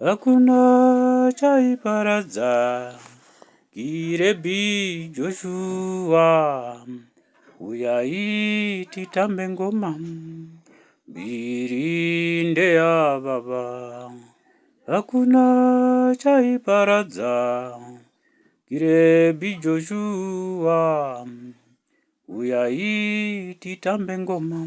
Hakuna chaiparadza Girebhi Joshua Uyai titambe ngoma Mbiri ndeya baba Hakuna chaiparadza Girebhi Joshua Uyai titambe ngoma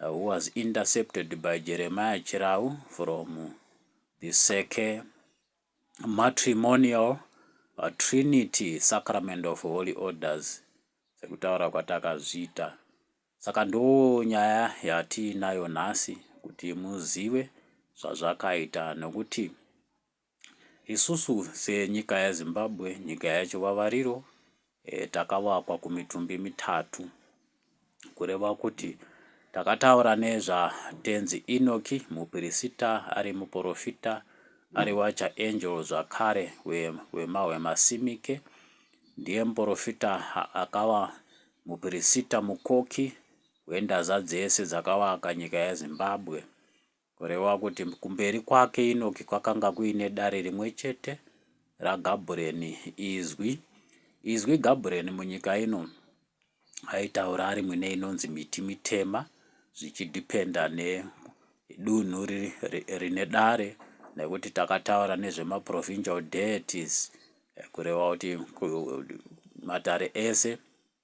who was intercepted by Jeremiah Chirau from the Seke Matrimonial Trinity Sacrament of Holy Orders sekutaura kwatakazviita. Saka ndonyaya yatiinayo nhasi kuti muzive zvazvakaita nokuti Isusu senyika yeZimbabwe, nyika yechivavariro eh, takavakwa kumitumbi mitatu kureva kuti takataura nezvatenzi Enoki mupirisita ari muporofita ari wacha angel zvakare wemahwe masimike ndiye muporofita akava mupirisita mukoki wendaza dzese dzakavaka nyika yeZimbabwe Kureva kuti kumberi kwake Inoki kwakanga kuine dare rimwe chete raGabureni, Izwi. Izwi Gabureni munyika ino aitaura ari mwine inonzi miti mitema zvichidhipenda nedunhu rine dare nekuti takataura nezvemaprovincial deities kureva kuti matare ese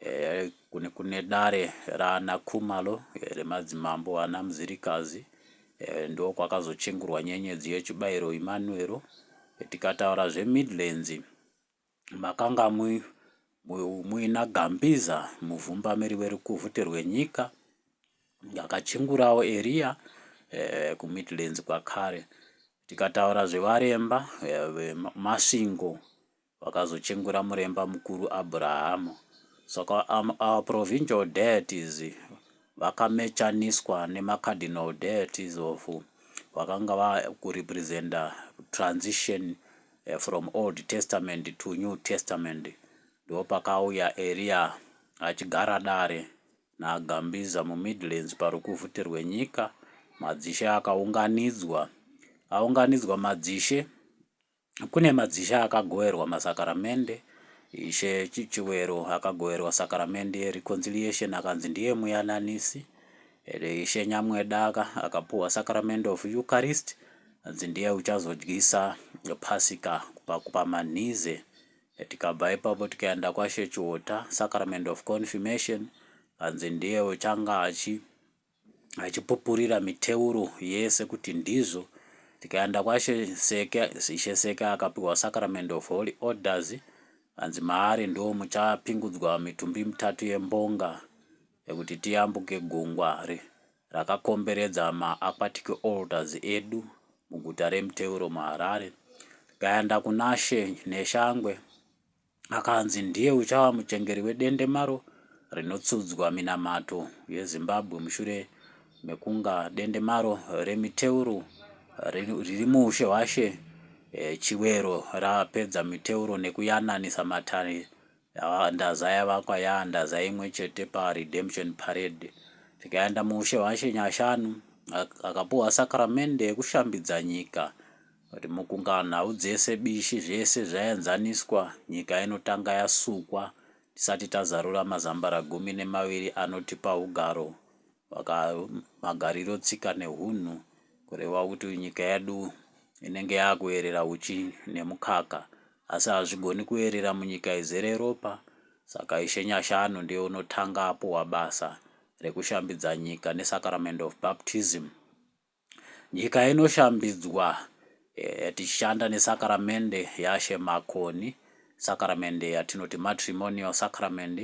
Eh, kune, kune dare raana Khumalo eh, remadzimambo ana Mzilikazi eh, ndo kwakazochengurwa nyenyedzi yechibairo Imanuero. Eh, tikataura zveMidlands makanga mu, mu, muina Gambiza muvhumbamiri werukuvhute rwenyika akachengurawo Eria eh, kuMidlands kwakare. Tikataura zvevaremba eh, vemasvingo Vakazochengura muremba mukuru Abraham. Saka um, our provincial deities vakamechaniswa nemacardinal deities of vakanga vakurepresenta transition Eh, from old testament to new testament ndo pakauya eria achigara dare nagambiza mumidlands parukuvhute rwenyika madzishe akaunganidzwa aunganidzwa madzishe Kune madzishe akagoverwa masakaramende. Ishe Chiwero akagoverwa sakaramende yereconciliation akanzi ndiye muyananisi. Ishe Nyamweda akapuhwa sakaramende of Eucharist anzi ndiye uchazodyisa pasika kupa manhize. Tikabva ipapo tikaenda kwaShe Chiwota, sacrament of confirmation anzi ndiye uchanga achi achipupurira miteuro yese kuti ndizvo tikaenda kwaShe Seke Ishe Seke akapiwa sacrament of holy orders hanzi maari ndiwo muchapingudzwa mitumbi mitatu yembonga yekuti tiyambuke gungwa re rakakomberedza maaquatic altars edu muguta reMteuro muHarare tikaenda kunaShe Neshangwe akanzi ndiye uchava muchengeri wedendemaro rinotsudzwa minamato yeZimbabwe mushure mekunga dendemaro remiteuro riri muushe hwaShe eh, Chiwero rapedza miteuro nekuyananisa matare ndaza yavakwa yaandaza imwe chete paredemption parade tikaenda muushe hwashe nyashanu akapuhwa sakramende yekushambidza nyika Vati mukunga nhau dzese bishi zvese zvayanzaniswa nyika inotanga yasukwa tisati tazarura mazambara gumi nemaviri anotipa hugaro hwaka magariro tsika nehunhu kureva kuti nyika yedu inenge yakuerera huchi nemukaka asi hazvigoni kuerera munyika izere ropa saka ishe nyashanu ndiye unotanga apuwa basa rekushambidza nyika nesacrament of baptism Nyika inoshambidzwa tichishanda nesakaramende yaShe Makoni, sakaramende yatinoti matrimonial sacrament,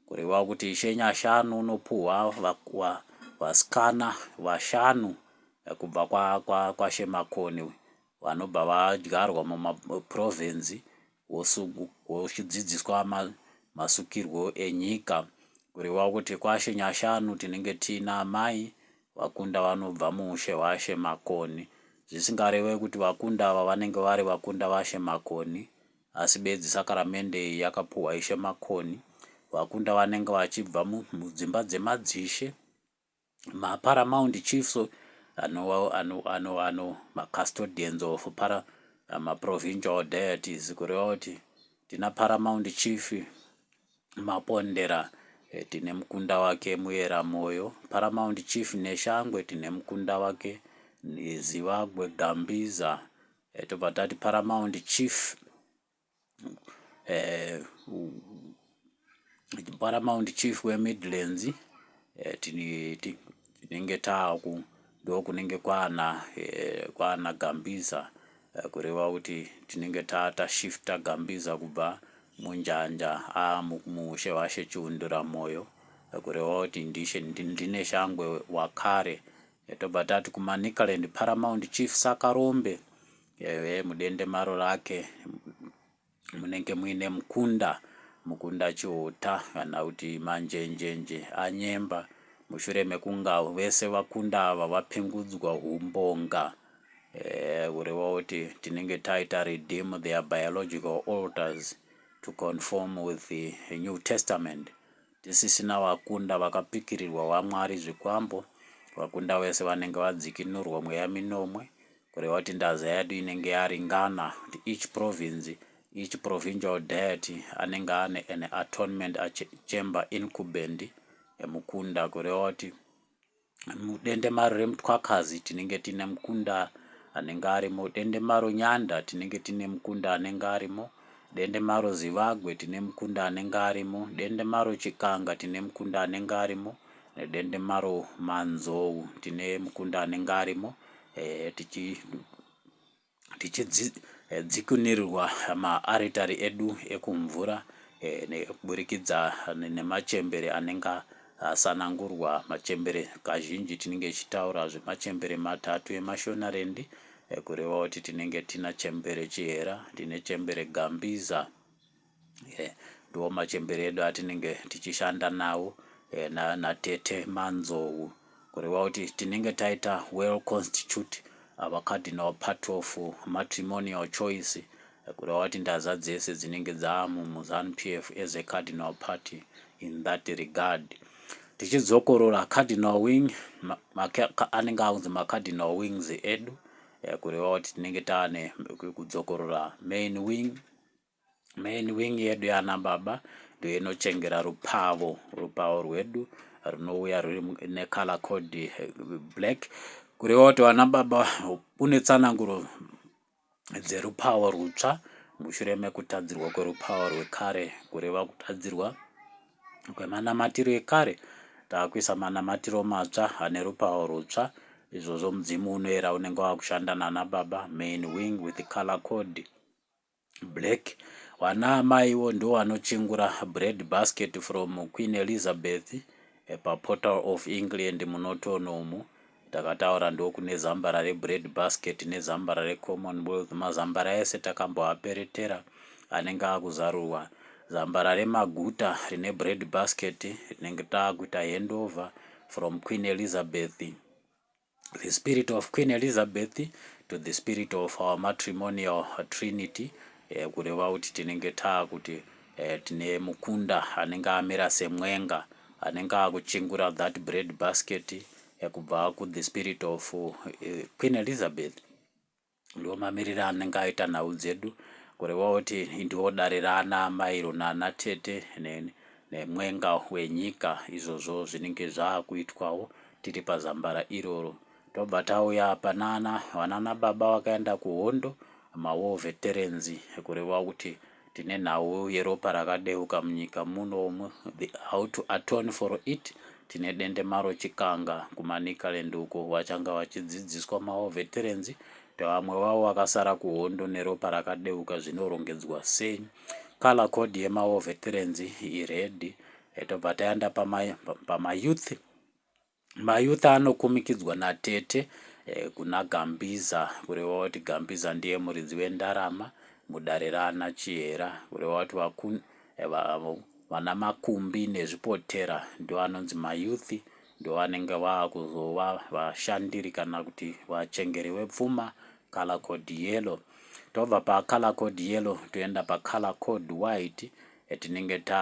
kureva kuti Ishe Nyashanu unopuhwa vasikana vashanu kubva kwaShe Makoni vanobva vadyarwa mumapurovhinzi wochidzidziswa masukirwo enyika kureva kuti kwaShe Nyashanu tinenge tiina amai vakunda vanobva muushe hwaShe Makoni zvisingareve kuti vakunda ava vanenge vari vakunda vaShe Makoni asi bedzi sakaramende iyi yakapuhwa Ishe Makoni vakunda vanenge vachibva mudzimba dzemadzishe maparamount chiefs ano ano ano ano macustodians of para maprovincial deities kureva kuti tina paramount chief mapondera eh, tine mukunda wake muyera moyo paramount chief neshangwe tine mukunda wake zivagwe gambiza eh, tobva tati paramount chief eh, paramount chief wemidlands eh, tinenge taaku ndokunenge kwana eh, kwana gambiza eh, kureva kuti tinenge tata shifta gambiza kubva munjanja amumushe ah, vashe chiundura moyo eh, kureva kuti ndishe ndine shangwe wakare eh, tobva tati kumanicaland paramount chief sakarombe Ehe mudende maro rake munenge muine mukunda mukunda chiuta kana kuti manjenjenje anyemba mushure mekunga vese vakunda ava vapingudzwa humbonga eh, kureva kuti tinenge taita redeem their biological altars to conform with the new testament tisisina vakunda vakapikirirwa vamwari zvikwambo vakunda vese vanenge vadzikinurwa mweya minomwe Kureva kuti ndaza yedu inenge yaringana kuti each province, each provincial deity anenge ane an atonement chamber incumbent yemukunda kureva kuti mudendemaro remutwakazi tinenge tine mukunda anenge arimo dendemaro nyanda tinenge tine mukunda anenge arimo dendemaro zivagwe tine mukunda anenge arimo dendemaro chikanga tine mukunda anenge arimo nedendemaro manzou tine mukunda anenge arimo eh, tichi tichidzikunirirwa eh, maaritari edu ekumvura eh, nekuburikidza nemachembere anenge asanangurwa machembere kazhinji tinenge tichitaura zvemachembere matatu emashonarendi eh, kureva kuti tinenge tina chembere chihera tine chembere gambiza eh, ndiwo machembere edu atinenge tichishanda nawo eh, na, natete manzou kureva kuti tinenge taita well constitute our cardinal part of matrimonial choice kureva kuti ndaza dzese dzinenge dzamumuzanu p f as a cardinal party in that regard tichidzokorora cardinal wing anenge akunzi macardinal wings edu eh, kureva kuti tinenge taane kudzokorora main wing Main wing yedu yana baba ndiyo inochengera rupavo rupavo rwedu runouya ruri necolor code eh, black kurewa kuti vana baba une tsananguro dzerupavo rutsva mushure mekutadzirwa kwerupavo rwekare kureva kutadzirwa kwemanamatiro ekare taakuisa manamatiro matsva ane rupavo rutsva izvozvo mudzimu unoera unenge wakushanda nana baba main wing with color code Black, vana amaiwo ndovanochengura bread basket from Queen Elizabeth paPortal of England muNorton umu takataura ndokune zambara rebread basket nezambara reCommonwealth mazambara ese takamboaperetera anenge akuzarurwa zambara remaguta rine bread basket rinenge takuita handover from Queen Elizabeth the spirit of Queen Elizabeth to the spirit of our matrimonial trinity eh, kureva kuti tinenge taa kuti eh, tine mukunda anenge amira semwenga anenge akuchingura that bread basket eh, kubva ku the spirit of eh, Queen Elizabeth Ndiwo mamirire anenge aita nhau dzedu kureva kuti ndiwo dare raana amai iro naana tete ne, nemwenga wenyika izvozvo zvinenge zvaakuitwawo tiri pazambara iroro. Tobva tauya panana vanana baba vakaenda kuhondo, mawar veterans kureva kuti tine nhau yeropa rakadeuka munyika muno umu the how to atone for it tine dende maro chikanga kumanikaland uko wachanga wachidzidziswa maoveterenzi vamwe vavo vakasara kuhondo neropa rakadeuka zvinorongedzwa sei color code yemaoveterenzi ired yatobva tayanda pamayouth pama Mayouth anokumikidzwa natete kuna Gambiza kureva kuti Gambiza ndiye muridzi wendarama mudare raana Chihera kureva kuti vaku vana Makumbi nezvipotera ndovanonzi mayouth ndovanenge vakuzova vashandiri kana kuti vachengeri vepfuma color code yellow tobva pacolor code yellow toenda pacolor code white tinenge ta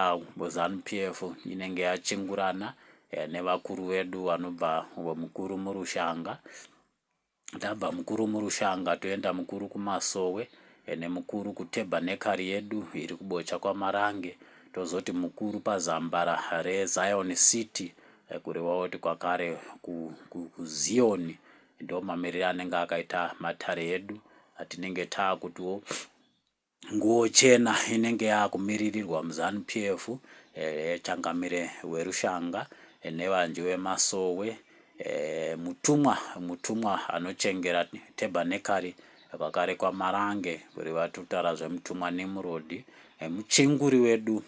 ZanuPF inenge yachingurana eh, nevakuru vedu vanobva mukuru murushanga tabva mukuru murushanga toenda mukuru kumasowe eh, nemukuru kutebhanekari yedu iri kubocha kwamarange tozoti mukuru pazambara rezion city eh, kureva kuti kwakare kuziyoni ndo mamiriro anenge akaita matare edu atinenge taakutiwo Nguwo chena inenge yakumiririrwa muZanu PF eh, changamire werushanga eh, nevanji vemasowe eh, mutumwa mutumwa anochengera tebanekari kwakare kwaMarange kuri vatutara zvemutumwa Nimrod eh, muchenguri wedu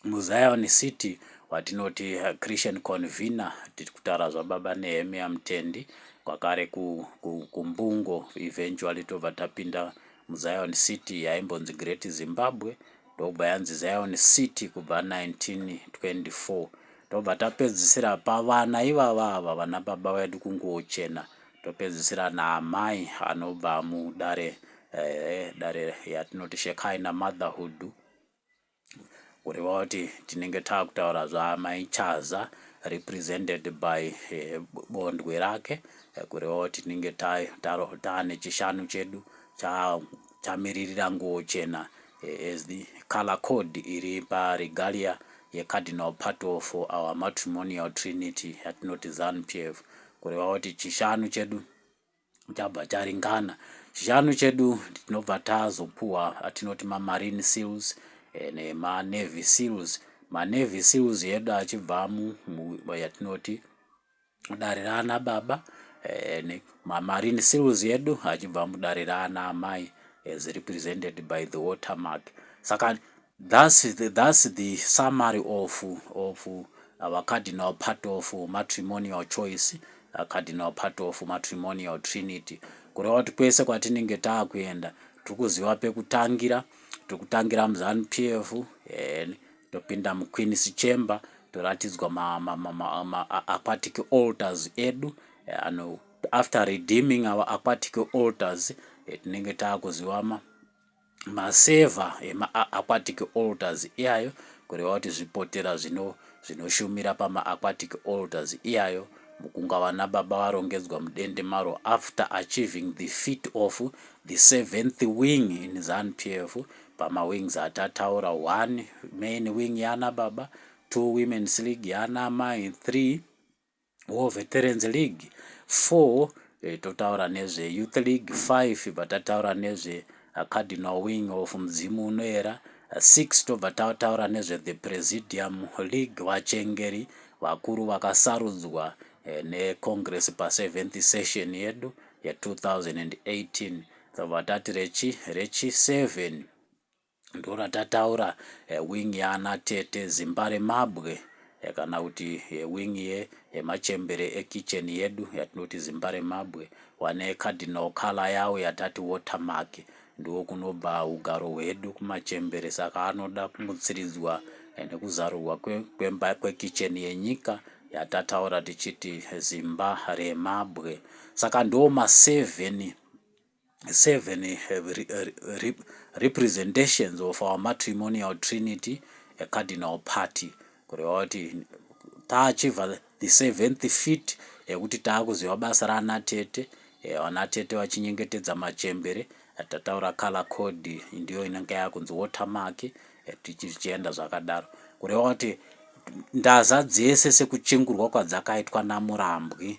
MuZion City watinoti Christian Convener tiri kutaura zvaBaba Nehemia Mutendi kwakare kuMbungo eventually tobva tapinda muZion City yaimbonzi Great Zimbabwe ndokubva yanzi Zion City kubva 1924 tobva tapedzisira pavana ivava ava vana baba vedu kunguwo chena topedzisira naamai anobva mudare eh, dare yatinoti Shekhaina Motherhood kureva kuti tinenge takutaura zvaamai chaza represented by eh, bondwe rake eh, kureva kuti tinenge taane chishanu chedu chamiririra nguo chena eh, as the color code iri paregalia yecardinal part of our matrimonial trinity yatinoti zanpf kureva kuti chishanu chedu chabva charingana chishanu chedu tinobva tazopuwa atinoti mamarine seals eh, nemanavy seals manavy seals edu achibva yatinoti dare raana baba eh, mamarine seals edu achibva mudare raana amai as represented by the watermark saka Thus, thus the summary of, of our cardinal part of matrimonial choice, a cardinal part of matrimonial trinity. Kureva kuti kwese kwatinenge taakuenda tiri kuziva pekutangira, tiri kutangira muZanu PF, and topinda muQueen's Chamber, toratidzwa ma, ma, ma, ma, ma aquatic altars edu, and after redeeming our aquatic altars, eh, tinenge taakuziva ma Maseva emaAquatic altars iyayo, kureva kuti zvipotera zvino zvinoshumira pamaAquatic altars iyayo, mukunga vanaBaba varongedzwa mudende maro after achieving the feat of the seventh wing in Zanu-PF, pamawings atataura, one, main wing yanaBaba, two, women's league yanaAmai, three, War Veterans League 4 eh, totaura nezve Youth League 5 ibva tataura nezve uh, Cardinal Wing of Mudzimu Unoera 6 uh, tobva tataura nezve The Presidium League vachengeri vakuru vakasarudzwa eh, neCongress pa7th session yedu ye2018 tobva tati rechi rechi 7 Ndoratataura wing yaana tete Zimbaremabwe kana kuti wing yemachembere ekitchen yedu yatinoti Zimbaremabwe wane cardinal colour yawo yatati watermark. Ndiwo kunobva hugaro hwedu kumachembere saka anoda kumutsiridzwa nekuzarurwa kwemba kwekitchen yenyika yatataura tichiti Zimbaremabwe. Saka ndiwo maseven seven have re, uh, re, representations of our matrimonial trinity a cardinal party kureva kuti taachiva the seventh feet yekuti taakuziva basa raana tete eh, ana tete vachinyengetedza machembere tataura color code ndiyo inenge yakunzi watermark eh, tichienda zvakadaro kureva kuti ndaza dzese sekuchingurwa kwadzakaitwa namurambwi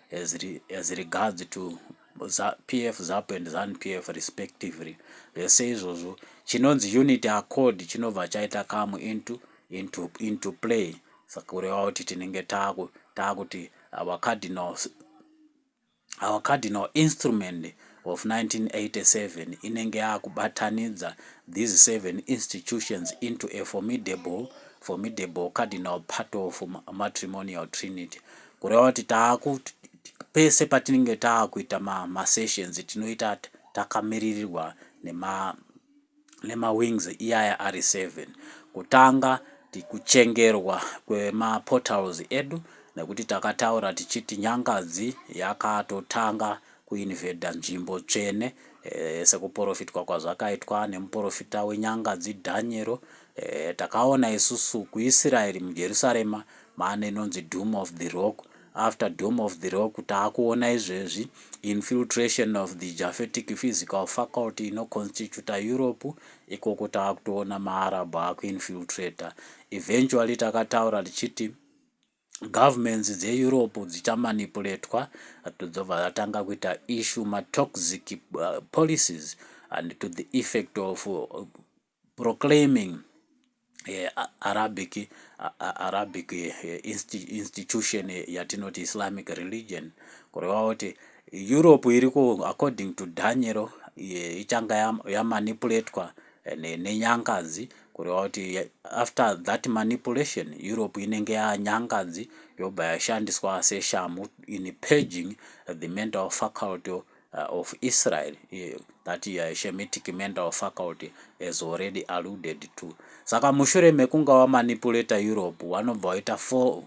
as, re, as regards to pf zap and zan pf respectively zvese izvozvo chinonzi unit accord chinobva chaita kamu into, into, into play saka kureva kuti tinenge taakuti our cardinal our cardinal instrument of 1987 inenge yakubatanidza these seven institutions into a formidable formidable cardinal part of matrimonial trinity Kureva kuti taaku pese patinenge taakuita ma, ma sessions tinoita takamiririrwa nema nemawings iyaya ari 7 kutanga kuchengerwa kwemaportals edu nekuti takataura tichiti nyangadzi yakatotanga kuinvhedha nzvimbo tsvene e, sekuporofitwa kwazvakaitwa nemuporofita wenyangadzi dhanyero E, takaona isusu kuIsiraeri muJerusarema maana inonzi Dome of the Rock. After Dome of the Rock taakuona izvezvi infiltration of the Japhetic physical faculty inoconstituta Europe, ikoko taakutoona maArab akuinfiltrator. Eventually takataura tichiti governments dzeeurope dzichamanipuletwa dzobva dzatanga kuita issue matoxic uh, policies and to the effect of uh, proclaiming eh, Arabic, eh, Arabic eh, institution eh, yatinoti Islamic religion kureva kuti Europe iri ku according to Daniel eh, ichanga yamanipulatwa ya eh, nenyangadzi kureva kuti eh, after that manipulation Europe inenge yanyangadzi yobva yashandiswa seshamu in paging the mental faculty uh, of Israel uh, that uh, Shemitic mental faculty has already alluded to. Saka mushure mekunga wamanipuleta Europe wanobva waita four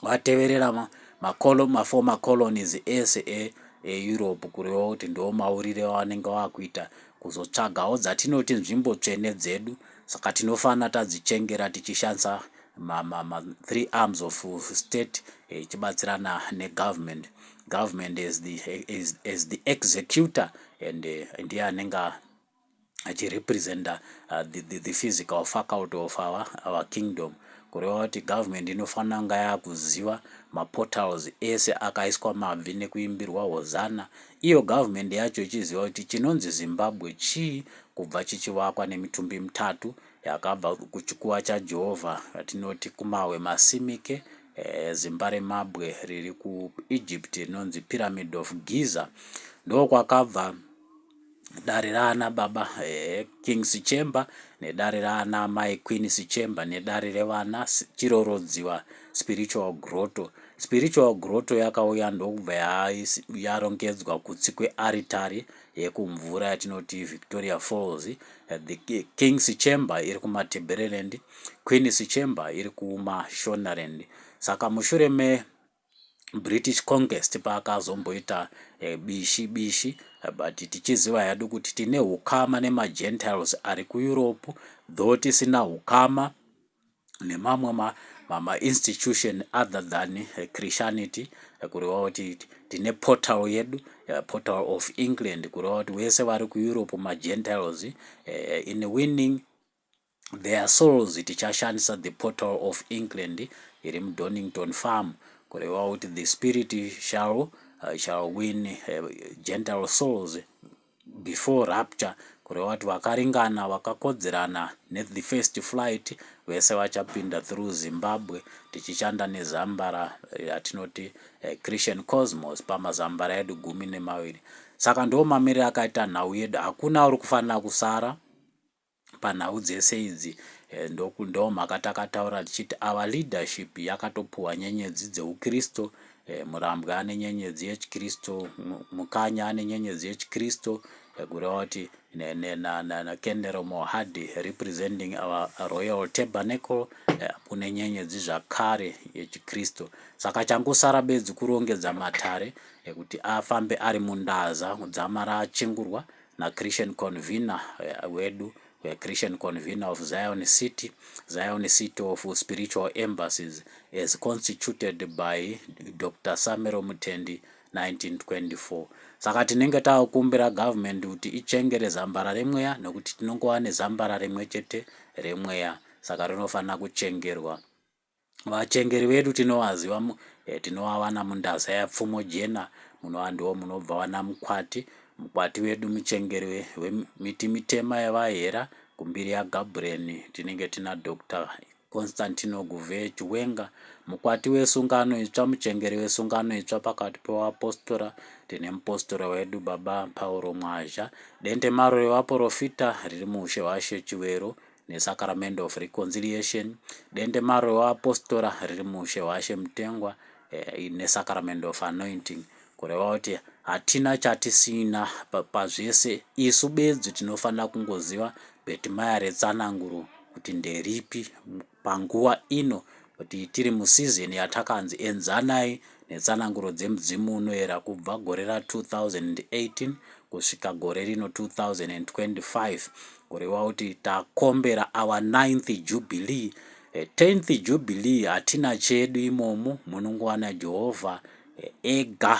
wateverera ma, ma, colon, ma former colonies ese e, e Europe kureva kuti ndiwo maurire awanenge wakuita kuzotsvagawo dzatinoti nzvimbo tsvene dzedu saka tinofanira tadzichengera tichishandisa ma, ma, ma three arms of state eh, ichibatsirana eh, negovernment government as the, as, as the executor and uh, ndiye anenge achirepresenta uh, the, the, the physical faculty of our, our kingdom kureva kuti government inofanira kunga yakuziva maportals ese akaiswa mabvi nekuimbirwa hozana iyo government yacho ichiziva kuti chinonzi zimbabwe chii kubva chichivakwa nemitumbi mitatu yakabva kuchikuva chajehovha yatinoti kumawe masimike Eh, zimba remabwe riri kuEgypt rinonzi Pyramid of Giza ndokwakabva dare raana baba eh, King Sichemba nedare raana mai Queen Sichemba nedare revana Chirorodziwa Spiritual Grotto. Spiritual Grotto yakauya ndokubva yarongedzwa kutsi kwearitari yekumvura yatinoti Victoria Falls, the King's Chamber iri kuMatabeleland, Queen's Chamber iri kuMashonaland. Saka mushure me British Conquest paakazomboita eh, bishi bishi but tichiziva hedu kuti tine ukama nemaGentiles ari kuEurope though tisina ukama nemamwe ma, ma, ma institution other than eh, Christianity eh, kureva kuti tine portal yedu eh, portal of England kureva kuti wese vari kuEurope magentiles in winning their souls tichashandisa the portal of England iri muDonington farm kureva kuti the spirit shall, uh, shall win uh, gentile souls Before rapture kureva kuti vakaringana vakakodzerana ne the first flight vese vachapinda through Zimbabwe tichishanda ne zambara ratinoti Christian Cosmos pama zambara edu gumi nemaviri. Saka ndoomamirire akaita nhau yedu hakuna uri kufanira kusara. panhau dzese idzi eh, ndoku ndo mhaka takataura tichiti our leadership yakatopuhwa nyenyedzi dzeukristo eh, murambwa ane nyenyedzi yechikristo mukanya ane nyenyedzi yechikristo eh, kureva kuti kenero mohadi representing our royal tabernacle kune nyenyedzi zvakare yechikristo saka changosara bedzi kurongedza matare ekuti afambe ari mundaza dzamara achingurwa na Christian convener eh, wedu we Christian convener of Zion City, Zion City of Spiritual Embassies, as constituted by Dr. Samero Mutendi 1924. Saka tinenge takukumbira government kuti ichengere zambara remweya nekuti tinongova nezambara rimwe chete remweya saka rinofanira kuchengerwa Vachengeri vedu tinovaziva eh, tinovawana mundasa yapfumo jena muno andiwo munobva wana mukwati mukwati wedu muchengeri wemiti mitema yevahera kumbiri yagabureni tinenge tina dr constantino guve chiwenga mukwati wesungano itsva muchengeri wesungano itsva pakati pevapostora tine mupostora wedu baba pauro mwazha dente maro revaporofita riri muushe hwashe chivero nesacrament of reconciliation dendemaro revapostora riri muushe hwaShe Mutengwa eh, nesacrament of anointing kureva kuti hatina chatisina pazvese isu bedzi tinofanira kungoziva bhetimaya retsananguro kuti nderipi panguva ino kuti tiri musizini yatakanzi Enzanai Netsananguro Dzemudzimu unoyera kubva gore ra 2018 kusvika gore rino 2025 kureva kuti takombera our 9th Jubilee. 10th eh, Jubilee hatina chedu imomo, munongowana Jehovha eh, ega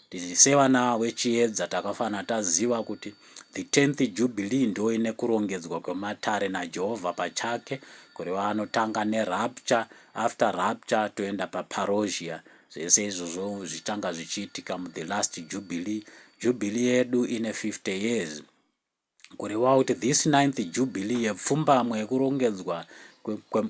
Tiri sevana veChiedza takafanira taziva kuti the tenth jubilee ndo ine kurongedzwa kwematare naJehovha pachake kureva anotanga nerapture after rapture toenda paparousia zvese izvozvo zvichanga zvichiitika muthe last jubilee. Jubilee yedu ine 50 years. kurevawo kuti this ninth jubilee yepfumbamwe yekurongedzwa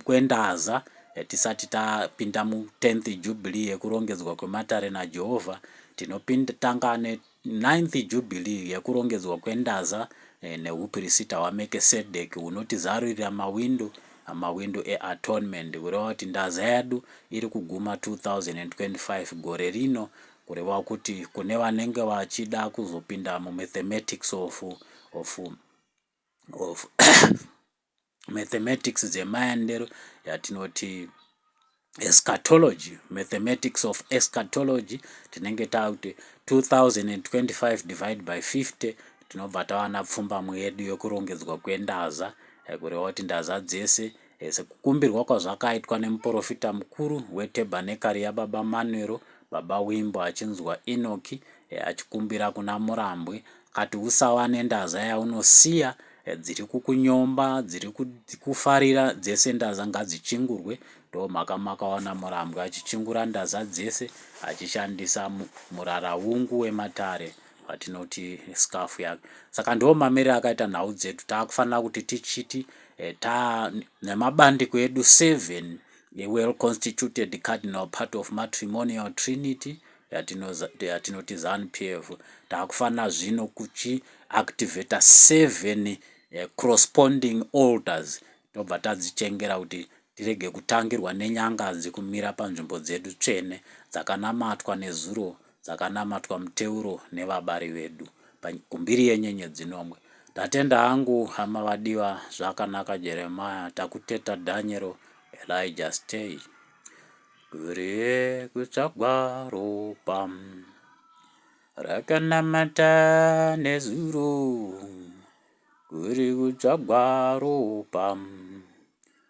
kwendaza tisati tapinda mu tenth jubilee yekurongedzwa kwematare naJehovha tinotanga ne ninth jubilee yekurongedzwa kwendaza eh, neupirisita hwaMekesedeki hunotizarurira mawindo mawindo eatonement kureva kuti ndaza yedu iri kuguma 2025 gore rino Kureva kuti kune vanenge vachida kuzopinda mumathematics of, of, of mathematics dzemaendero yatinoti eschatology mathematics of eschatology tinenge takuti 2025 divide by 50 tinobva tawana pfumbamwe yedu yokurongedzwa kwendaza eh, kureva kuti ndaza dzese Sekukumbirwa kwazvakaitwa nemuporofita mukuru wetebhanekari yaBaba Manwero, Baba Wimbo achinzwa Enoki achikumbira kuna Murambwi akati usava nendaza yaunosiya dziri kukunyomba dziri kufarira dzese ndaza ngadzichingurwe ndomhaka makaona Murambwi achichingura ndaza dzese achishandisa muraraungu wematare vatinoti scarf yake saka ndiwo mamiriro akaita nhau dzedu taakufanira kuti tichiti Taa nemabandiko edu seven ewell constituted cardinal part of matrimonial trinity yatinoti zanu p f taakufanira zvino kuchi activator seven eh, corresponding alters tobva tadzichengera kuti tirege kutangirwa nenyanganzi kumira panzvimbo dzedu tsvene dzakanamatwa nezuro dzakanamatwa muteuro nevabari vedu kumbiri yenyenyedzi nomwe. Ndatenda hangu hama vadiwa zvakanaka Jeremiah takuteta Daniel Elijah stay. Kurie kutsvagwa ropa rakanamata nezuro kuri kutsvagwa ropa.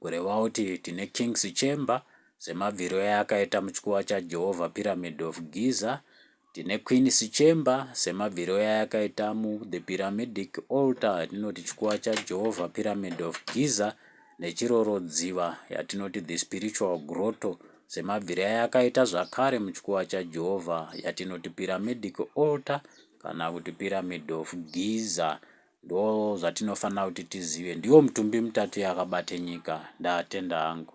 kureva kuti tine King's Chamber semabviro ayakaita muchikuva chaJehovha Pyramid of Giza, tine Queen's Chamber semabviro ayakaita muThe Pyramidic Altar yatinoti chikuva chaJehovha Pyramid of Giza neChirorodziva yatinoti The Spiritual Grotto semabviro ayakaita zvakare muchikuva chaJehovha yatinoti Pyramidic Altar kana kuti Pyramid of Giza Ndozvatinofanira kuti tizive. Ndiwo mutumbi mutatu yakabate nyika. Ndatenda hangu.